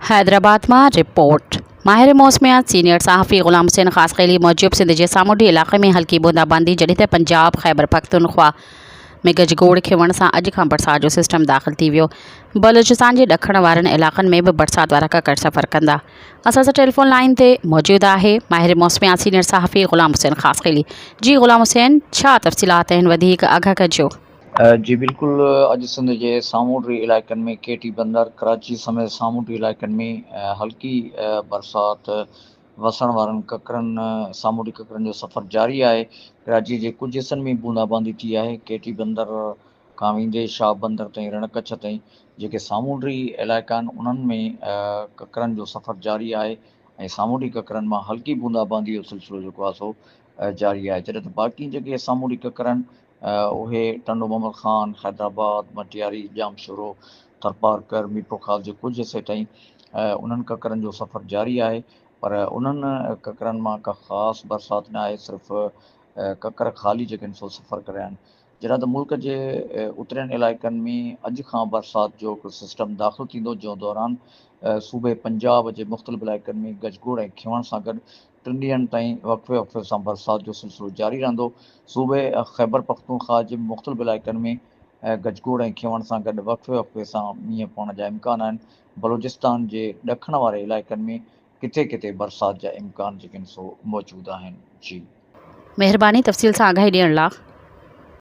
حيدرآباد مان رپورٽ، ماهر موسميات سينيئر صحافي غلام حسين خاصخيلي موجب سنڌ جي سامونڊي علائقي ۾ هلڪي بونداباندي جڏهن ته پنجاب، خيبرپختونخوا ۾ گجگوڙ کيوڻ سان اڄ کان برسات جو سسٽم داخل ٿي ويو. بلوچستان جي ڏکڻ وارن علائقن ۾ به برسات وارا ڪڪڙ سفر ڪندا. اسان سان ٽيليفون لائين تي موجود آهي ماهر موسميات سينيئر صحافي غلام حسين خاصخيلي، جي غلام حسين ڇا تفصيلات آهن وڌيڪ آگاهه ڪجو. جي بلڪل اڄ سنڌ جي سامونڊي علائقن ۾ ڪي ٽي بندر ڪراچي سميت سامونڊي علائقن ۾ هلڪي برسات وسڻ وارن ڪڪرن سامونڊي ڪڪرن جو سفر جاري آهي ڪراچي جي ڪجهه حصن ۾ بوندا باندي ٿي آهي ڪي ٽي بندر کان ويندي شاهه بندر تائين رڻ ڪڇ تائين جيڪي سامونڊي علائقا آهن انهن ۾ ڪڪرن جو سفر جاري آهي ۽ سامونڊي ڪڪرن مان هلڪي بوندا باندي جو سلسلو جيڪو آهي سو جاري آهي جڏهن ته باقي جيڪي سامونڊي ڪڪر آهن اهي ٽنڊو محمد خان، حيدرآباد، مٽياري، ڄامشورو، ٿرپارڪر، ميرپورخاص جي ڪجهه عرصي تائين انهن ڪڪرن جو سفر جاري آهي پر انهن ڪڪرن مان ڪا خاص برسات نه آهي صرف ڪڪر خالي جيڪن سو سفر ڪري آهن جڏهن ته ملڪ جي اترين علائقن ۾ اڄ کان برسات جو هڪ سسٽم داخل ٿيندو جنهن دوران صوبي پنجاب جي مختلف علائقن ۾ گجگوڙ ۽ کيوڻ سان گڏ ٽن ڏينهن تائين وقفي وقفي سان برسات جو سلسلو جاري رهندو، صوبي خيبرپختونخواهه جي مختلف علائقن ۾ گج گوڙ ۽ کيوڻ سان گڏ وقفي وقفي سان مينهن پوڻ جا امڪان آهن، بلوچستان جي ڏکڻ واري علائقن ۾ ڪٿي ڪٿي برسات جا امڪان جيڪن سو موجود آهن. جي. مهرباني تفصيل سان آگاهي ڏيڻ لا.